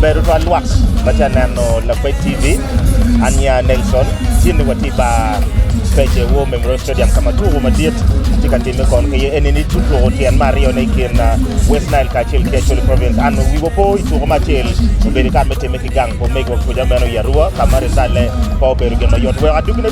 Bedo twal lwak ma tye ka neno Lakwed TV. An nya Nelson, tye ni watye i bar Pece War Memorial Stadium ka ma tuko madit tye ka timme kong ki iye. Eni ni tuko tyen me aryo ne i kin West Nile kacel ki Acholi Province. An wiwa opo i tuko me acel obedo i kare me timme ki gang pa omegiwa kuca meno i Arua ka ma ritale pe obedo gin ma yot. Weko adugi ne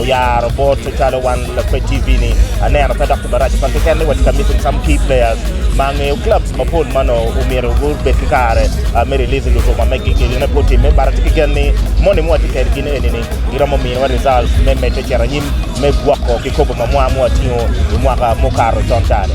Oyaro bot calo wan Lakwed TV ni aneno pe dok tye marac tutwal keken ni watye ka missing some key players ma angeyo clubs mapol ma onongo omyero gubed ki kare me release lutuka megi ki gin aye pud timme but atye ki gen ni moni ma watye kwedgi ni eni ni giromo miyowa results me medde cito anyim me gwoko kikopo ma mwa ma watingo i mwaka mukato con cani.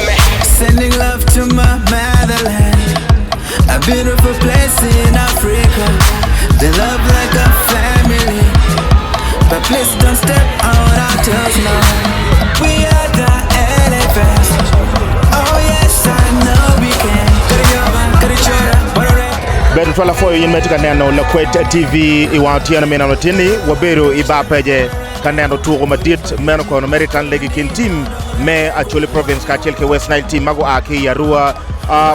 Bedo twalafoyo in ma itye ka neno Lakwed TV i wang otyeno me nino latinni, wabedo i bar pece. Ka neno tuko madit meno kono mere itan lege kin tim me Acholi Province kacel ki West Nile team ma gua ki i Arua.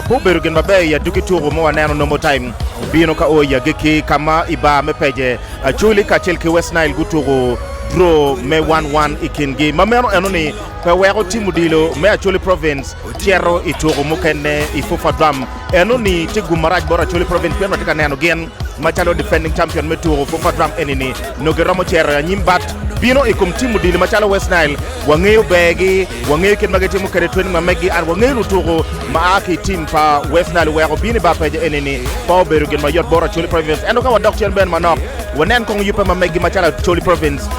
Pe obedo gin maber i aduki tuko ma waneno Normal Time bino ka o i agikki ka ma i bar me Peje, Acholi kacel ki West Nile gutuko draw me one one i kingi ma meno eno ni pe weko tim odilo me Acholi Province cito i tuko mukene i FUFA Drum. Eno ni tye gum marac bot Acholi Province pien watye ka neno gin macalo defending champion me tuku Fufa Drum eni ni nongo giromo cito i anyim but bino i kom team odilo macalo West Nile wangeyo ber gi, wangeyo kit ma gitimo kwede training ma megi and wangeyo lutuku ma a ki i team pa West Nile oweko bino i bar peja eni ni pe obedo gin mayot bot Acholi Province ento ka wadok cen bene manok wanen kong yubbe ma megi macalo Acholi Province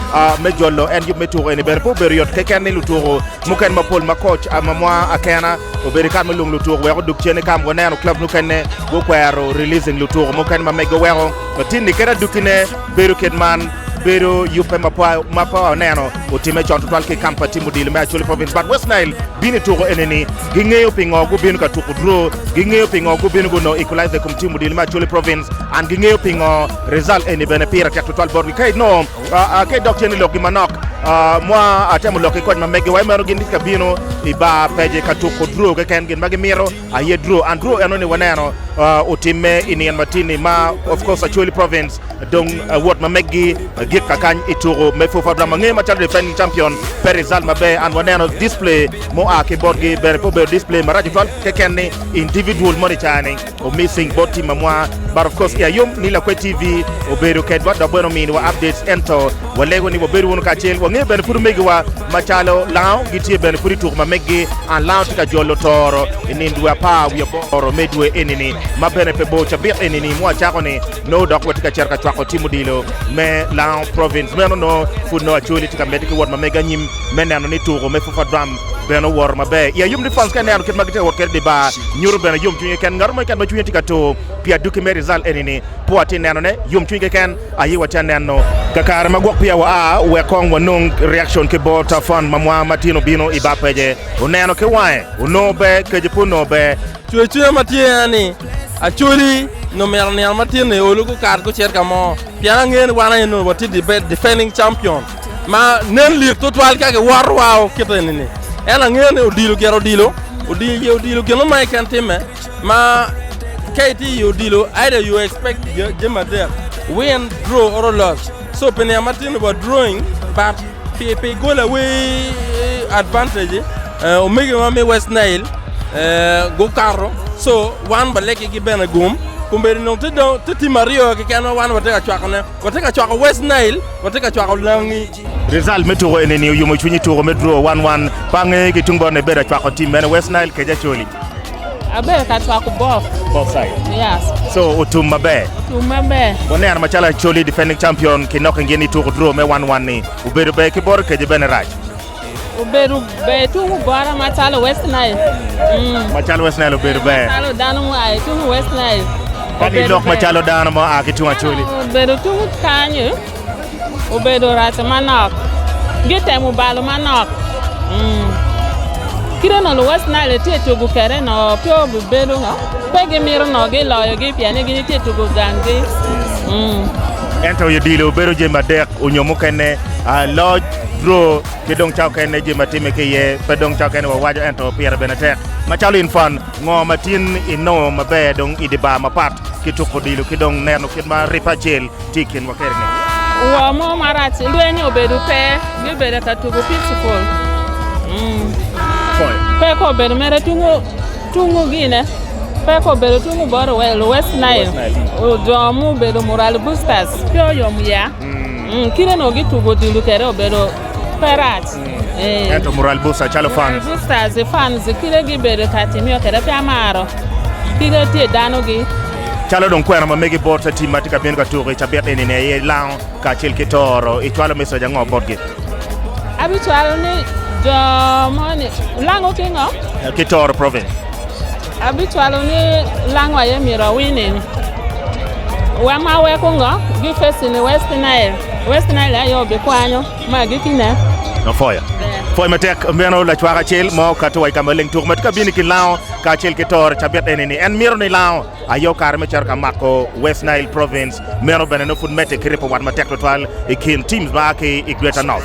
me jolo en yub me tuku eni bene pe obedo yot keken ni lutuku mukene mapol ma coach mamwa Akena Obedo kare me lung lutuko wek odug cen. Eka waneno clubs mukene gukwero releasing lutuko mukene ma mege weko latinni kede adukkine bedo kit man. Bedo yubbe ma pe ma pe waneno otimme con tutwal ki i kamp pa tim odilo me Acholi Province. But West Nile bino i tuko enini. Gingeyo pingo gubino ka tuko draw, gingeyo pingo gubino gunongo equalizer i kom tim odilo me Acholi Province, and gingeyo pingo result eni bene pire tek tutwal botgi. Ka inongo Ka idok cen i lokgi manok, ma atemo lok ki kony ma meggiwa, i meno gin gitye ka bino i bar pece ka tuko draw keken. Gin ma gimito aye draw, and draw eno ni waneno otimme i nino matin-ni ma of course Acholi Province dong wot ma meggi gik ka kany i tuko me FUFA. Adwam ange macalo defending champion pe result maber, and waneno display mua ki botgi bene pe obedo display maraco twal keken ni individual moni cani. Omising bot team amwa but of course kia yom ni Lakwe TV obedo kedwa dok bene omini wa updates ento walego ni wabed wunu kacel wange bene pud omegi wa macalo Lango gitye bene pud ituko ma meggi and Lango tye ka jolo toro I nin dwe apar wiye aboro me dwe enini ma bene pe bor cabik enini ma wacako ni nongo dok watye ka cito ka cwako team odilo me Lango province meno nongo pud nongo Acholi tye ka medde ki wot ma mege anyim me neno ni tuko me Fufa drum bene owoto maber i Ayub Nippons ka ineno kit ma gitye ka wot kwede i dye bar. Nyuto bene yomcwiny keken. Ngat mo keken ma cwinye tye ka tur pi adwogi me rizalt eni-ni, pe watye ka nenone. Yomcwiny keken aye watye ka neno. Kakare ma gwok peya waa wek kong wanong reakcon ki bot Tafond ma mwanga ma tin obino i bar pece. Oneno ki wange, onongo ber, kece pe onongo ber. Cwer cwinya ma tye en ni, Acholi nongo myero nino matin-ni olu gukat gucit ka mo, pien angeyo ni wan aye nongo watye defending champion. Ma nen lit tutwal ka giworo wa o kit eni ni. En angeyo ni odilo gire odilo, odilo ye odilo gino ma iken timme ma ka iti i odilo either you expect jami adek win, draw or lose. So pi niya matin about drawing but pi pi gol away advantage eh, omege wa me West Nile eh, gukato so wan balegi gi bene gum kun bedo nongo te dong te tim aryo keken ma wan watye ka cwakone. Watye ka cwako West Nile, watye ka cwako langi. Rizalt me tuko enini oyumo cwiny i tuko me draw wan wan. Pa ange ki tung botne bedo acwako tim mene, West Nile kece Acholi. Abedo ka cwako both. Both side? Yes. So otum maber? Otum maber. Waneno macalo Acholi defending champion ki Nocking gin ituko draw me wan wan ni obedo ber ki bot Okece bene rac. Obedo ber tuku bota macalo West Nile. Macalo West Nile obedo ber. Macalo dano mua i tuku West Nile. Kadi lok macalo dano mua ki tung Acholi. Obedo tuku kanyo obedo rac manok. Gitemo balo manok. Mm. Kite no West Nile tye tuku kere no pe obibedo no. Pe gimito no giloyogi pien ni gitye tuku ganggi. Mm. Ento odilo obedo jami adek onyo mukene Loc, two, ki dong ca okene jami ma timme ki iye pe dong ca okene wawaco ento pire bene tek. Macalo in fan, ngo ma tin inongo maber dong i dye bar mapat ki tuko odilo ki dong neno kit ma ripe acel tye i kinwa kede-ni? Ngo mo marac ilweny obedo pe gibedo ka tuko picball? Pe ka obedo mere tungu tungu Gine, pe ka obedo tungu bot West Nile, jo mubedo Murali Boosters pe oyom ya. Kite onongo gitugo odilo kwede obedo pe rac. Ento Mural Booster calo fans. Boosters fans kite gibedo ka timiyo kwede pe amaro. Kite tye danogi. Calo dong kwena ma megi bot tim ma tye ka bino ka tuko i cabit eni ne aye lango kacel ki toro. Icwalo message ango botgi? Abicwalo ni jo moni lango ki ngo? Ki toro province. Abicwalo ni lang wa aye myero awining. Wa ma weko ngo gi fesi ni West Nile. West Nile aye obikwanyo ma agiki ne. Afoyo. Foyo matek meno lacwak acel mo okato wa i kama leng tuk ma tye ka bino i kin lango ka acel ki tor cabit eni ni en mito ni lango aye okare me cito ka mako West Nile Province. Meno bene nongo pud medde ki ripo wat matek twatwal i kin teams ma aa ki i Greater North.